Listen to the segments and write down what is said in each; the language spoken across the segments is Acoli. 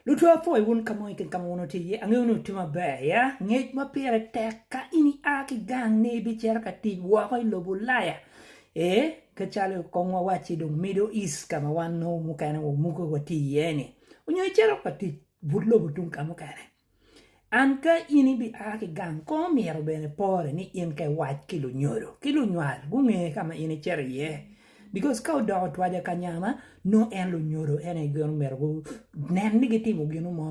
Lutwa apwoyo wun ka mo i kin ka ma wun wutye iye. Angeyo ni wutye maber ya. Ngec ma pire tek ka in ia ki gang ni ibicito ka tic woko i lobo Ulaya. Ee, kit calo kong wawacci dong Middle East ka ma wan nongo mukene wamuke watye iye-ni. Nyo icito ka tic but lobo tung ka mukene. An ka in ibi a ki gang kong omyero bene pore ni in ka iwac ki lunyodo ki lunywal gunge ka ma in icito iye bikos ka odoko twaja ka nya ma nongo en lunyodo en aye gin omyero gunen ni gitimo ginu mo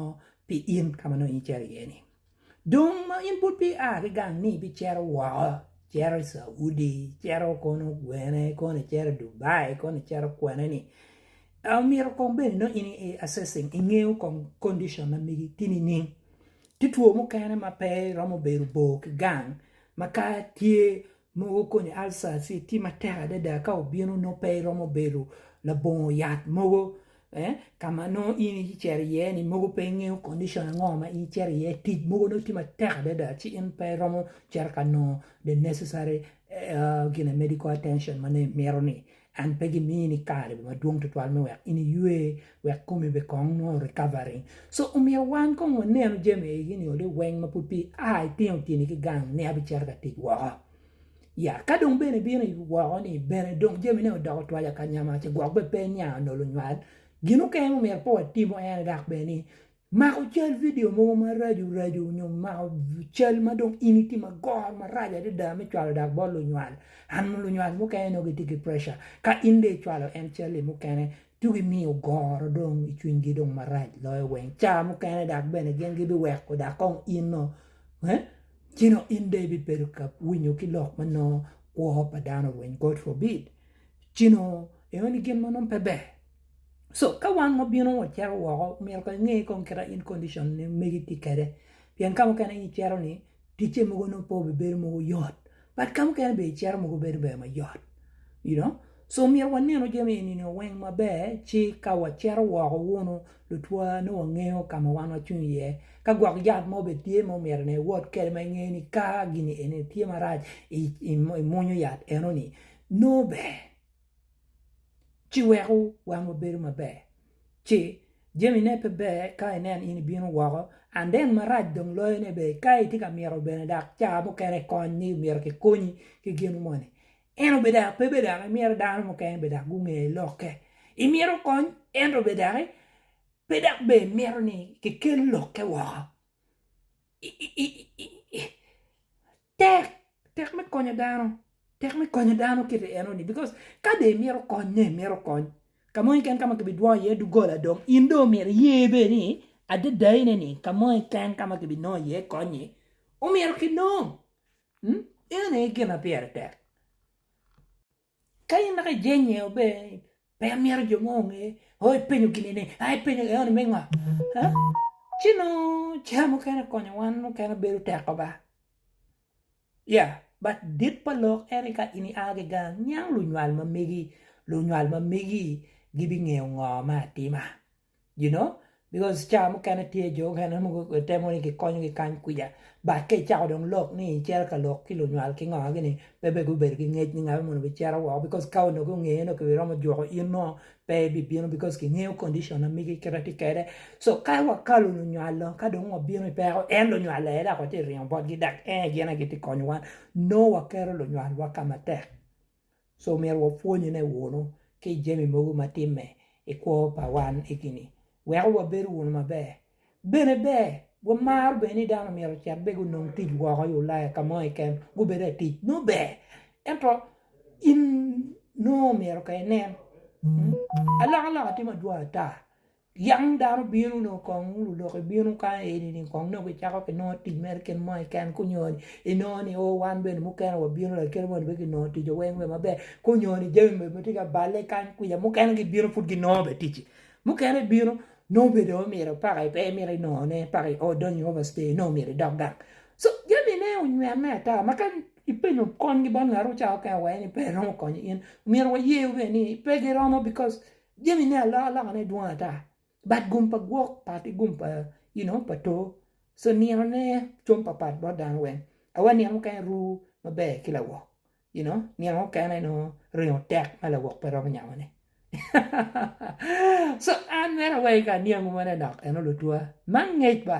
pi in ka ma nongo in icito iye ni dong ma in pud pe ia ki gang ni ibicito woko icito i Caudi icito kono gwene kono icito Dubai kono icito kwene ni Omyero kong bed nongo in i assessing, ingeyo kong condition ma megi ki nining. Tye two mukene ma pe iromo bedo bor ki gang ma ka tye mogo koni ulcer ci tye matek adada ka obino nongo pe iromo bedo labongo yat mogo ka ma nongo in icito iye ni mogo pe ingeyo condition ango ma in icito iye tic mogo nongo tye matek adada ci in pe iromo cito ka nongo the necessary medical attention ma nongo imito-ni. An pe gimini kare madwong tutwal me wek in iywe, wek komi be kong nongo recovery. So omyero wan kong wanenu jami agi ni ole weng ma pud pi a itino tyeni ki gang ni abicito ka tic woko. Ya ka dong bene ibino woko ni bene dong jami ne odoko twaja kanya ma ce gwok bene pe niang nolo nywal. Gin mukene ma omyero pe watimo en dok bene ni Mako cal vidio mogo maraco raco nyo mako cal ma dong in itye magor maraco adada me cwalo dok bot lunywal. An lunywal mukene nongo gitye ki preca ka in dong icwalo en cal-li mukene ci gimiyo goro dong i cwinygi dong marac loyo weng. Ca mukene dok bene gin gibiweko dok kong in nongo ee ci dong in dong ibibedo ka winyo ki lok ma nongo kwo pa dano orweny God forbid ci nongo ineno ni gin ma nongo pe ber. So ka wan wa bino wa cito woko myero kong inge kong kita in condition ni megi ti kede. Pien ka mukene in icito ni ticce mogo nongo pe obibedo mogo yot. But ka mukene be icito mogo bedo ber ma yot. You know? So myero wa nenu jami eni nio weng ma ber ci ka wa cito woko wunu lutwa nongo wa ngeyo ka ma wan wa cung iye. Ka gwok yat mo be tye ma omyero ni iwot kede ma ingeyo ni ka gini eni tye marac i i i munyu yat eno ni nongo ber. ci weko wangwa bedo maber ci jami ne pe ber ka inen in ibino woko and then marac dong loyo ne bene ka itye ka mito bene dok caa mukene kony ni myero ki konyi ki gin moni ento bene dok pe bene dok imito dano mukene bene dok gunge lokke imito kony ento bene doki pe dok bene imito ni ki kel lokke woko Tek, tek me konyo dano, tek me konyo dano kite enoni because ka dong imito konye, imito kony ka mo keken ka ma kibidwongo iye doggola dong in dong omyero iye bene ni adadane ni ka mo keken ka ma kibinongo iye kony-nyi omyero kinong, eno aye gin ma pire tek. Ka in naka ijenye o be pe imyero jo mo onge o ipenyo gini ni a ipenyo eo ni me ngo ci nongo ca mukene konyo wan mukene bedo tek ko ba ya but dit pa lok ene ka in ia ki gang niang lunywal ma megi lunywal ma megi gibingeyo ngo ma atima. you know because cawa mukene tye jo mukene mogo gitemo ni gikonyo gi kany kwica but ka icako dong lok ni icito ka lok ki lunywal ki ngo gini pe bene gubedo ki ngec ni ngat moni bicito woko because ka onongo gunge ni onongo kibiromo juko in ngo pe ibibino because kingeyo condition ma migi kite tye kede so ka wakalu lunywal lo ka dong wabino ipeko en lunywal aye dok watye ringo botgi dok en aye gin aye gitye konyowa nongo waketo lunywal wa kama tek. So myero wapwonyone wunu ki i jami mogo ma timme i kwo pa wan egini weko wabedo wunu maber. Bene ber wamaro bene ni dano myero ocit bene gunong tic woko i Ulaya ka mo keken gubedo atic nongo ber ento in nongo myero ka inen alokaloka tye madwong ata Yam dano bino nongo kong uru lok ibino kany eni kong nongo kicako ki nongo tic mere gin mo keken ka onyo ni inongo ni o wan bene mukene wabino lakite moni pe ginongo tic wa weng bene maber ka onyo ni jami bene ma tye ka balle kany kwica mukene gibino pud ginongo bene ticci mukene bino nongo bene dong omyero paka pe imito inongo ne paka i ot donyo i ovac te nongo omyero idok gang co jami ne onywene ata ma ka ipenyo kony gi bot ngat wu ca mukene wa eni pe romo konyo in omyero waye bene ni pe giromo bikos Jami me alokane dwong ata but gum pa gwok pat ki gum pa you know pa to so nino ne com pa pat bot dano weng awa nino mukene ru maber ki lawok you know nino mukene nongo ringo tek ma lawok pe romo nyamo ne so an mito awayi ka aniangu manonok eno lutwa ma angec ba.